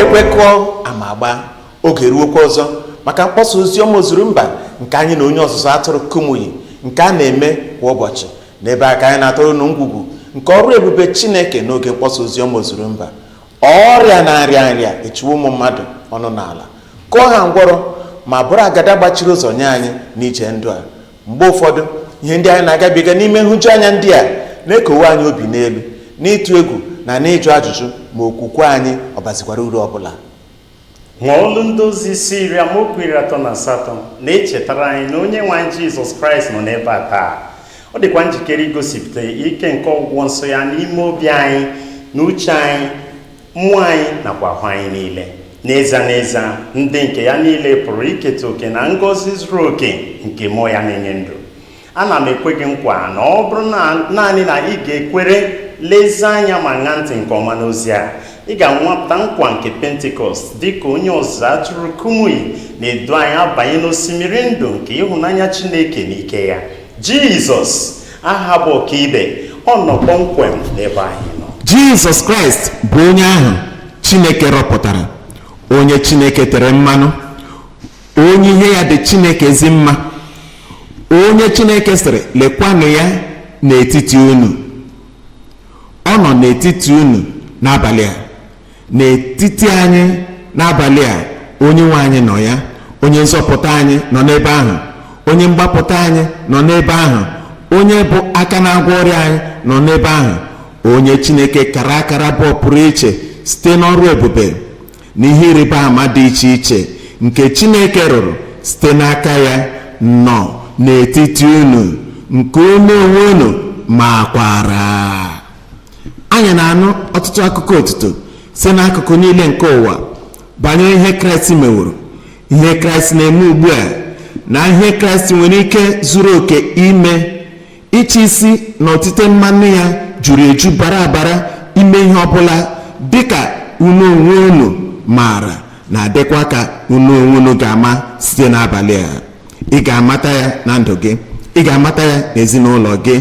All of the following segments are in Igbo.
ekwe kụọ ama agbaa oge eruokwa ọzọ maka mkpọsa ozi ọma ozuru mba nke anyị na onye ọzụzụ atụrụ kumuyi nke a na-eme kwa ụbọchị n'ebe a ka anyị na-atọrọ unu ngwugwu nke ọrụ ebube chineke n'oge mkpọsa ozi ọma ozuru mba ọrịa na nrịanrịa echiwo ụmụ mmadụ ọnụ n'ala kụọ ha ngwọrọ ma bụrụ agada gbachiri ụzọ nye anyị n'ije ndụ a mgbe ụfọdụ ihe ndị anyị na-agabiga n'ime nhụjuanya ndị a na-ekowe anyị obi n'elu n'ịtụ egwu na n'ịjụ ajụjụ ma okwukwe anyị ọ bazikwara uru ọ bụla ma ọlụ ndị ozi isi iri amaokwu iri atọ na asatọ na-echetara anyị na onye nwe anyị jizọs kraịst nọ n'ebe a taa ọ dịkwa njikere igosipụta ike nke ọgwụgwọ nsọ ya n'ime obi anyị na uche anyị mmụọ anyị nakwa ahụ anyị niile n'ezie n'ezie ndị nke ya niile pụrụ iketa oke na ngọzi zuru oke nke mmụọ ya na-enye ndụ ana m ekwe gị nkwa na ọ bụrụ naanị na ị ga-ekwere lezie anya ma ṅaa ntị nke ọma n'ozi a ị ga-anwapụta nkwa nke pentikọst dị ka onye ọzụzụ atụrụ kumuyi na-edu anyị abanye n'osimiri ndụ nke ịhụnanya chineke na ike ya jizọs aha bụ ọkaibe ọ nọ kpọmkwem n'ebe anyị nọ jizọs kraịst bụ onye ahụ chineke rọpụtara onye chineke tere mmanụ onye ihe ya dị chineke ezi mma onye chineke sịrị lekwanụ ya n'etiti unu ọ nọ n'etiti unu n'abalị a n'etiti anyị n'abalị a onye nwe anyị nọ ya onye nzọpụta anyị nọ n'ebe ahụ onye mgbapụta anyị nọ n'ebe ahụ onye bụ aka na-agwọ ọrịa anyị nọ n'ebe ahụ onye chineke kara akara bụ ọpụrụiche site n'ọrụ ebube na ihe ịrịba ama dị iche iche nke chineke rụrụ site n'aka ya nọ n'etiti unu nke unu onwe unu makwara anyị na-anụ ọtụtụ akụkọ otuto si n'akụkụ niile nke ụwa banyere ihe kraịst meworo ihe kraịst na-eme ugbu a na ihe kraịst nwere ike zuru oke ime ịchị isi na otite mmanụ ya juru eju bara abara ime ihe ọbụla dịka unu onwe unu maara na dịkwa ka unu onwe unu ga-ama site n'abalị a ị ga-amata ya na ndụ gị ị ga-amata ya n'ezinụlọ gị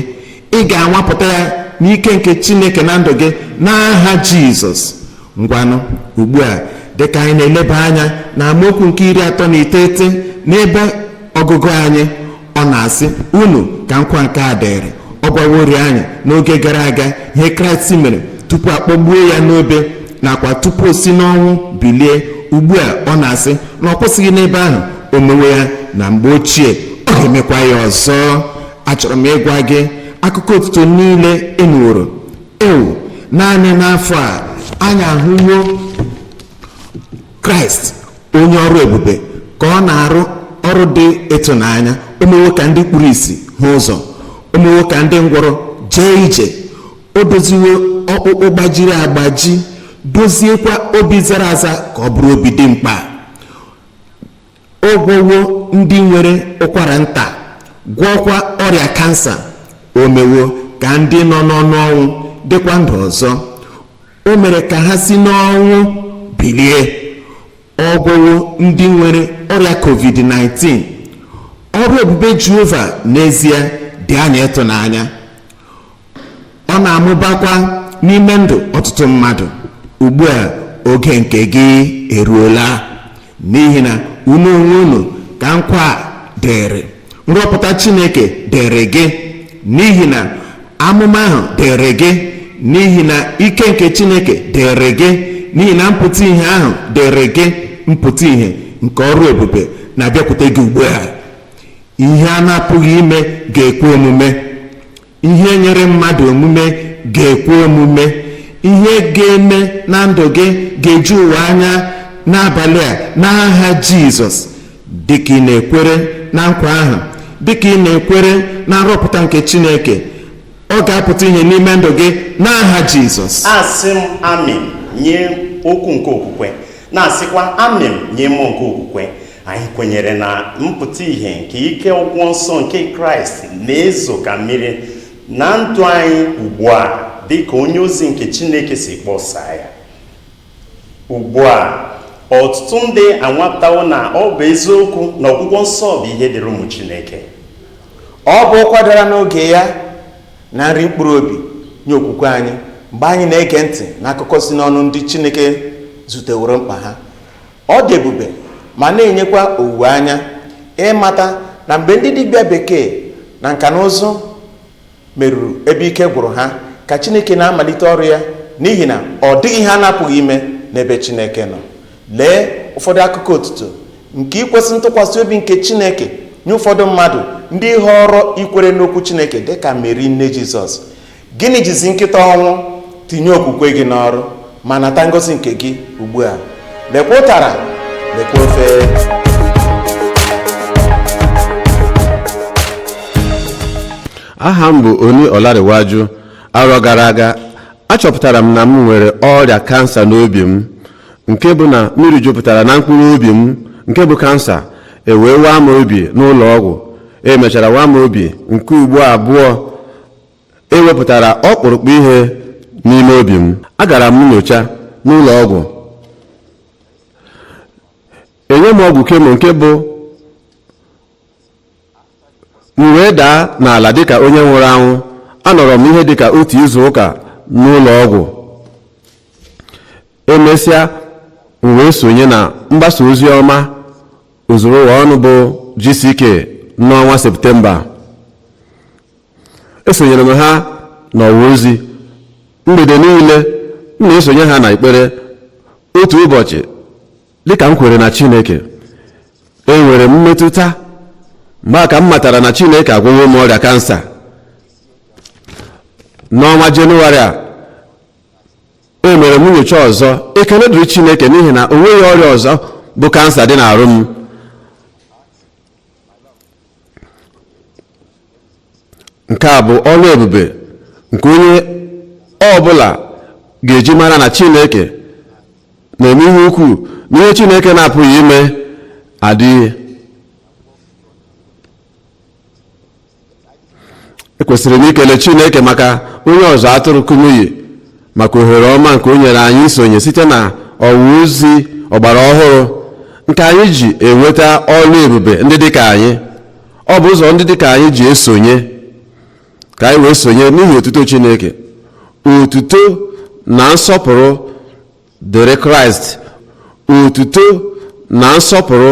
ị ga-anwapụta ya n'ike nke chineke na ndụ gị n'aha jizọs ngwanụ ugbu a dịka anyị na-eleba anya na amaokwu nke iri atọ na iteghete n'ebe ọgụgụ anyị ọ na-asị unu ka nkwa nke a dịịrị ọ gwaworị anyị n'oge gara aga ihe kraịst mere tupu a kpọgbuo ya n'obe nakwa tupu o si n'ọnwụ bilie ugbu a ọ na-asị na ọ kwụsịghị n'ebe ahụ o mewo ya na mgbe ochie ọ ga-emekwa ya ọzọ achọrọ m ịgwa gị akụkọ otuto niile ị nụworo ewoo naanị n'afọ a anyị ahụwo kraịst onye ọrụ ebube ka ọ na-arụ ọrụ dị ịtụnanya o mewo ka ndị kpuru isi hụ ụzọ o mewo ka ndị ngwọrọ jee ije o doziwo ọkpụkpụ gbajiri agbaji doziekwa obi zara aza ka ọ bụrụ obi dị mkpa Ọ gwọwo ndị nwere ụkwara nta, gwọọkwa ọrịa kansa. O mewo ka ndị nọ n'ọnụ ọnwụ dịkwa ndụ ọzọ. O mere ka ha si n'ọnwụ bilie. Ọ gwọwo ndị nwere ọrịa COVID-19. Ọrụ ebube Jehova n'ezie dị anyị ịtụnanya. ọ na-amụbakwa n'ime ndụ ọtụtụ mmadụ ugbu a oge nke gị eruola n'ihi na unu onwe unu ka nkwa a dịrị nrọpụta chineke dịrị gị n'ihi na amụma ahụ dịrị gị n'ihi na ike nke chineke dịrị gị n'ihi na mpụta ihe ahụ dịrị gị mpụta ihe nke ọrụ ebube na-abịakwute gị ugbu a ihe a na-apụghị ime ga-ekwe omume ihe nyịrị mmadụ omume ga-ekwe omume ihe ga-eme na ndụ gị ga-eju ụwa anya n'abalị a n'aha jizọs dịka ị na-ekwere na nkwa ahụ dịka ị na-ekwere na nrọpụta nke chineke ọ ga-apụta ihe n'ime ndụ gị n'aha jizọs asị m amịn nye okwu nke okwukwe na-asịkwa amịn nye mmụọ nke okwukwe anyị kwenyere na mpụta ihe nke ike ọgwụgwọ nsọ nke kraịst na-ezo ka mmiri na ndụ anyị ugbu a dị ka onye ozi nke chineke si kpọsa ya ugbu a ọtụtụ ndị anwapụtawo na ọ bụ eziokwu na ọgwụgwọ nsọ bụ ihe dịrị ụmụ chineke ọ bụ okwu dara n'oge ya na nri mkpụrụ obi nye okwukwe anyị mgbe anyị na-ege ntị n'akụkọ si n'ọnụ ndị chineke zuteworo mkpa ha Ọ dị ebube ma na-enyekwa owuwe anya ịmata na mgbe ndị dibịa bekee na nka na ụzụ meruru ebe ike gwụrụ ha ka Chineke na-amalite ọrụ ya n'ihi na ọ dịghị ihe a na-apụghị ime n'ebe Chineke nọ. Lee ụfọdụ akụkọ otuto nke ikwesị ntụkwasị obi nke Chineke nye ụfọdụ mmadụ ndị họọrọ ikwere n'okwu Chineke dị ka Meri nne Jizọs. Gịnị jizi nkịta ọnwụ tinye okwukwe gị n'ọrụ ma nata ngozi nke gị ugbu a lekwa ụtara lekwa ofe aha m bụ Oni Ọlarịwaju arọ gara aga achọpụtara m na m nwere ọrịa kansa n'obi m nke bụ na mmiri jupụtara na mkpụrụ obi m nke bụ kansa ewee waa m obi n'ụlọ ọgwụ emechara waa m obi nke ugbo abụọ ewepụtara ọkpụrụkpụ ihe n'ime obi m agara m nyocha n'ụlọ ọgwụ enye m ọgwụ kemo nke bụ m wee daa n'ala dịka onye nwụrụ anwụ anọrọ m ihe dịka otu izu ụka n'ụlọ ọgwụ emesịa m wee sonye na mgbasa ozi ọma ozuru ụwa ọnụ bụ GCK n'ọnwa Septemba esonyere m ha n'ọwa ozi mgbede niile m na-esonye ha n'ekpere otu ụbọchị dịka m kwere na chineke enwere m mmetụta mgbe a ka m matara na chineke agwọwo m ọrịa kansa n'ọnwa jenụwarị a emere m nyocha ọzọ ekele dịrị chineke n'ihi na o nweghị ọrịa ọzọ bụ kansa dị n'arụ m nke a bụ ọrụ ebube nke onye ọ bụla ga-eji mara na chineke na-eme ihe ukwuu na ihe chineke na-apụghị ime adịghị ekwesịrị m ikele chineke maka onye ọzụzụ atụrụ kumuyi maka ohere ọma nke o nyere anyị isonye site na ọwa ozi ọgbara ọhụrụ nke anyị ji enweta ọrụ ebube ndị dịka anyị ọ bụ ụzọ ndị dịka anyị ji esonye ka anyị wee sonye n'ihi otuto chineke otuto na nsọpụrụ dịrị kraịst otuto na nsọpụrụ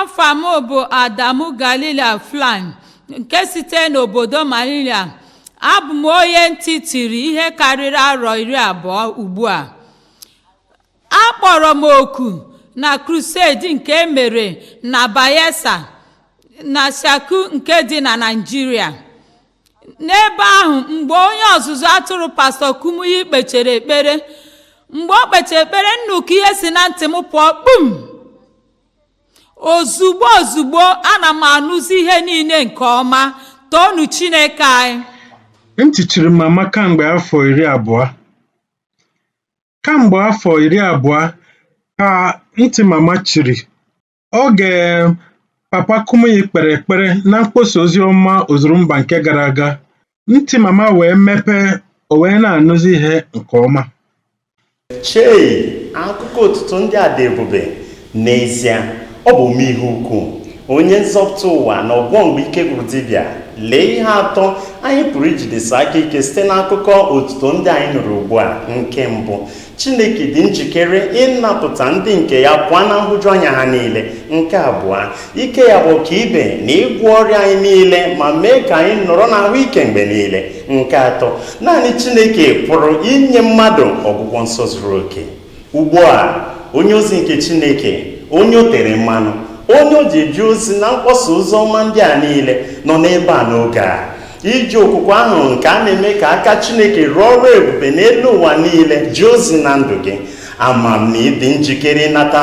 afa m bụ adamu galilia flan nke site n'obodo malilia abụ m onye ntị chiri ihe karịrị arọ iri abụọ ugbu a akpọrọ m oku na crusade nke e mere na bayelsa na shaku nke dị na naịjirịa n'ebe ahụ mgbe onye ọzụzụ atụrụ pastọ kumuyi kpechere ekpere mgbe o kpechere ekpere nnukwu ihe si na ntị m pụọ kpum ozugbo ozugbo ana m anụzi ihe niile nke ọma toonu chineke anyị Ntị chiri mama kamgbe afọ iri abụọ. Kamgbe afọ iri abụọ ka ntị mama chiri Oge Papa Kumuyi kpere ekpere na mkpọsa ozi ọma Ozurumba nke gara aga, ntị Mama wee mepee, o wee na-anụzi ihe nke ọma. Chei! Akụkọ otuto ndị a dị ebube! N'ezie, ọ bụ ome ihe ukwu, Onye Nzọpụta ụwa na Ọgwọ mgbe ike gwụrụ dibịa. Lee ihe atọ anyị pụrụ ijidesi aka ike site n'akụkọ otuto ndị anyị nụrụ ugbu a. Nke mbụ, Chineke dị njikere ịnapụta ndị nke ya pụọ na nhụjuanya ha niile. Nke abụọ, ike ya bụ ọkaibe na ịgwọ ọrịa anyị niile ma mee ka anyị nọrọ n'ahụike mgbe niile. Nke atọ, naanị Chineke pụrụ inye mmadụ ọgwụgwọ nsọ zuru oke. Ugbu a, onye ozi nke Chineke, onye o tere mmanụ, onye o ji eji ozi na mkpọsa ozi ọma ndị a niile nọ n'ebe a n'oge a. iji okwukwe ahụ nke a na-eme ka aka chineke rụọ ọrụ ebube n'elu ụwa niile jee ozi na ndụ gị ama m na ị dị njikere ịnata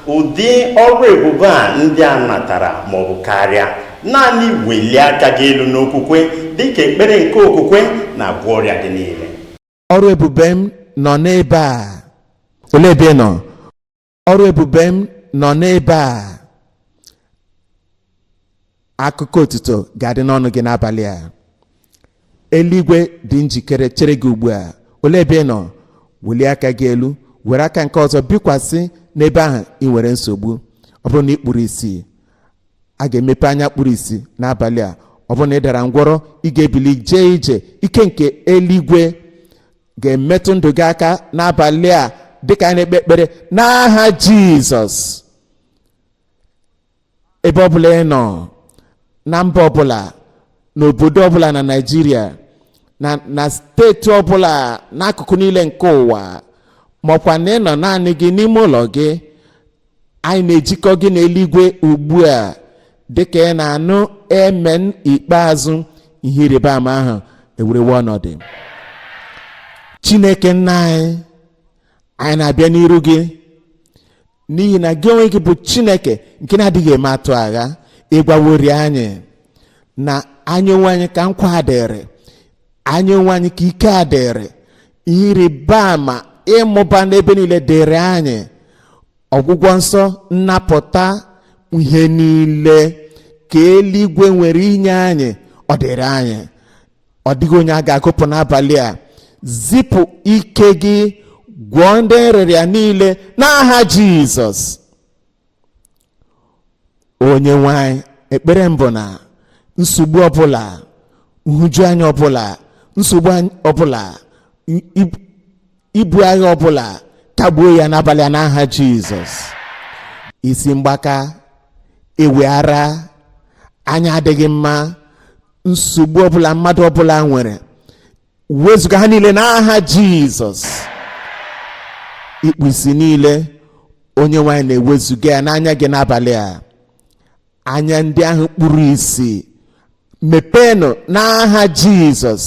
ụdị ọrụ ebube a ndị a natara maọbụ karịa naanị welie aka gị elu n'okwukwe dịka ekpere nke okwukwe na-agwọ ọrịa gị niile ọrụ ebube m nọ n'ebe a olee ebe ị nọ ọrụ ebube m nọ n'ebe a akụkọ otuto ga-adị n'ọnụ gị n'abalị a eluigwe dị njikere chere gị ugbu a olee ebe ị nọ welie aka gị elu were aka nke ọzọ bikwasị n'ebe ahụ ị nwere nsogbu ọ bụrụ na ị kpuru isi a ga-emepe anya kpuru isi n'abalị a ọ bụrụ na ị dara ngwọrọ ị ga-ebili jee ije ike nke eluigwe ga-emetụ ndụ gị aka n'abalị a dịka anyị na-ekpe ekpere n'aha jizọs ebe ọbụla ị nọ na mba ọbụla n'obodo ọbụla na naijiria na na steeti ọbụla n'akụkụ niile nke ụwa maọkwa na ị nọ naanị gị n'ime ụlọ gị anyị na-ejikọ gị n'eluigwe ugbu a dịka ị na-anụ emen ikpeazụ ihe ịrịba ama ahụ ewerewe ọnọdụ chineke nna anyị anyị na-abịa n'iru gị n'ihi na gị onwe gị bụ chineke nke na-adịghị eme atụ agha ị gwaworị anyị na anyị onwe anyị ka nkwa dịrị anyị onwe anyị ka ike a dịrị ihe ịrịba ama ịmụba n'ebe niile dịrị anyị ọgwụgwọ nsọ nnapụta ihe niile ka eluigwe nwere inye anyị ọ dịrị anyị ọ dịghị onye a ga-agụpụ n'abalị a zipụ ike gị gwọọ ndị nrịrịa niile n'aha jizọs onye nwe anyị ekpere m bụ na nsogbu ọbụla nhụjuanya ọbụla nsogbu anyị- ọbụla i- i- ibu agha ọbụla kagbuo ya n'abalị a n'aha jizọs isi mgbaka ịwị ara anya adịghị mma nsogbu ọbụla mmadụ ọbụla nwere wezuga ha niile n'aha jizọs ikpu isi niile onye nwe anyị na-ewezuga ya n'anya gị n'abalị a anya ndị ahụ kpuru isi mepeenụ n'aha jizọs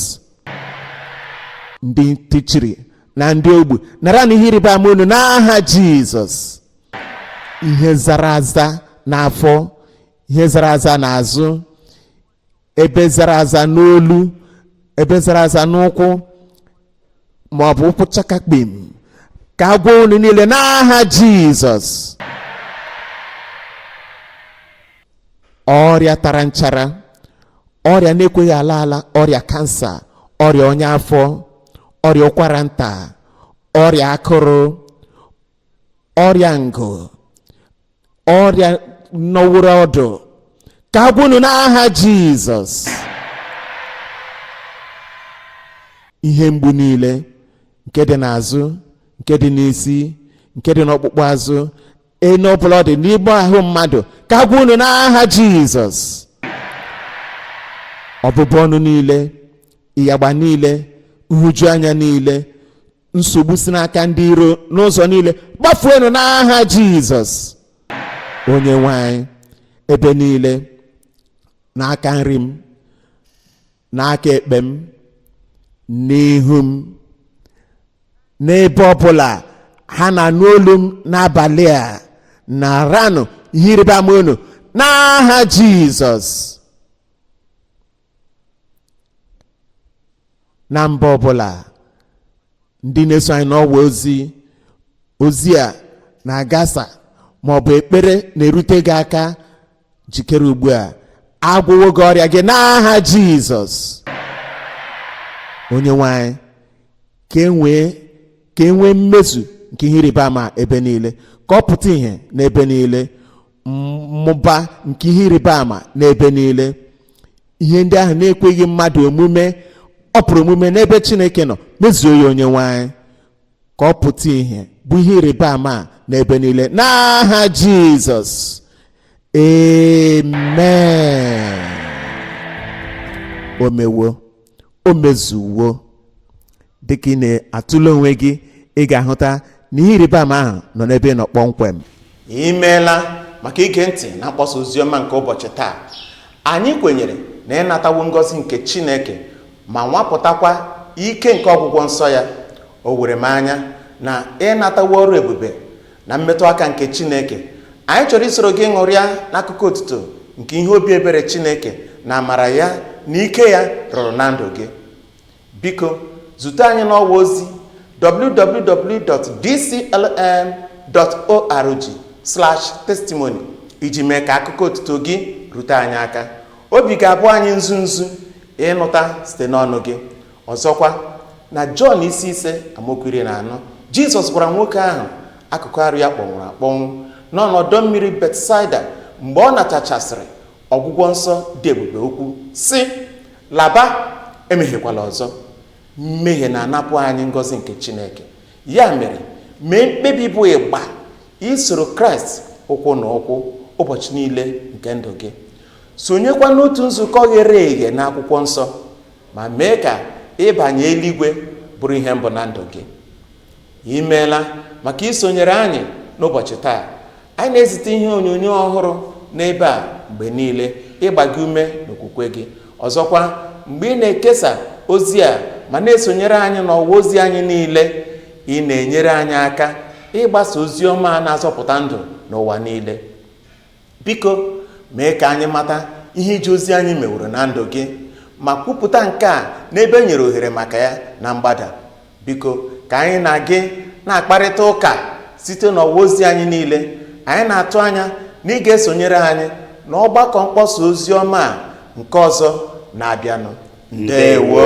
ndị ntị chiri na ndị ogbu naranụ ihe ịrịba ama unu n'aha jizọs ihe zara aza n'afọ ihe zara aza n'azụ ebe zara aza n'olu ebe zara aza n'ụkwụ ma ọ bụ ụkwụ chakakpim ka a gwọọ unu niile n'aha jizọs ọrịa tara nchara ọrịa na-ekweghị ala ala ọrịa kansa ọrịa ọnya afọ ọrịa ụkwara nta ọrịa akụrụ ọrịa ngụ ọrịa nọworo ọdụ ka a gwọọ unu n'aha jizọs ihe mgbu niile nke dị n'azụ nke dị n'isi nke dị n'ọkpụkpụ azụ ebe ọbụla ọ dị n'ime ahụ mmadụ ka a gwọọ unu n'aha jizọs ọbụbụ ọnụ niile ịyagba niile nhụju anya niile nsogbu si n'aka ndị iro n'ụzọ niile gbafuenụ n'aha jizọs onye nwe anyị ebe niile n'aka nri m n'aka ekpe m n'ihu m n'ebe ọbụla ha na-anụ olu m n'abalị a naranụ ihe ịrịba ama unu n'aha jizọs na mba ọbụla ndị na-eso anyị n'ọwa ozi ozi a na-agasa ma ọ bụ ekpere na-erute gị aka jikere ugbu a a gwọwo gị ọrịa gị n'aha jizọs onye nwe anyị ka e nwee ka e nwee mmezu nke ihe ịrịba ama ebe niile ka ọ pụta ìhè n'ebe niile mmụba nke ihe ịrịba ama n'ebe niile ihe ndị ahụ na-ekweghị mmadụ omume ọ pụrụ omume n'ebe chineke nọ mezuo ya onye nwe anyị ka ọ pụta ìhè bụ ihe ịrịba ama a n'ebe niile n'aha jizọs amen o mewo o mezuwo dị ka ị na-atụle onwe gị ị ga-ahụta na ihe ịrịba ama ahụ nọ n'ebe ị nọ kpọmkwem i meela maka ige ntị na mkpọsa oziọma nke ụbọchị taa anyị kwenyere na ị natawo ngọzi nke chineke ma nwapụtakwa ike nke ọgwụgwọ nsọ ya o were m anya na ị natawo ọrụ ebube na mmetụ aka nke chineke anyị chọrọ isoro gị ṅụrịa n'akụkọ otuto nke ihe obi ebere chineke na amara ya na ike ya rụrụ na ndụ gị Biko zute anyị n'ọwa ozi www.dclm.org/testimony iji mee ka akụkọ otuto gị rute anyị aka. Obi ga-abụ anyị nzu nzu ịnụta site n'ọnụ gị. Ọzọkwa, na Jọn isi ise amaokwu iri na anọ, Jizọs gwara nwoke ahụ akụkụ arụ ya kpọnwụrụ akpọnwụ nọ n'ọdọ mmiri Betsaida mgbe ọ natachasịrị ọgwụgwọ nsọ dị ebube okwu sị laba emehiekwala ọzọ mmehie na-anapụ anyị ngọzi nke chineke ya mere mee mkpebi bụ ịgba isoro kraịst ụkwụ na ụkwụ ụbọchị niile nke ndụ gị sonyekwa n'otu nzukọ ghere eghe n'akwụkwọ nsọ ma mee ka ịbanye eluigwe bụrụ ihe mbụ na ndụ gị i meela maka isonyere anyị n'ụbọchị taa anyị na-ezite ihe onyonyo ọhụrụ n'ebe a mgbe niile ịgba gị ume n'okwukwe gị ọzọkwa mgbe ị na-ekesa ozi a ma na-esonyere anyị n'ọwa ozi anyị niile ị na-enyere anyị aka ịgbasa ozi ọma a na-azọpụta ndụ n'ụwa niile Biko mee ka anyị mata ihe ije ozi anyị meworo na ndụ gị ma kwupụta nke a n'ebe e nyere ohere maka ya na mgbada. Biko ka anyị na gị na-akparịta ụka site n'ọwa ozi anyị niile. Anyị na-atụ anya na ị ga-esonyere anyị n'ọgbakọ mkpọsa ozi ọma a nke ọzọ na-abịanụ. Ndewo.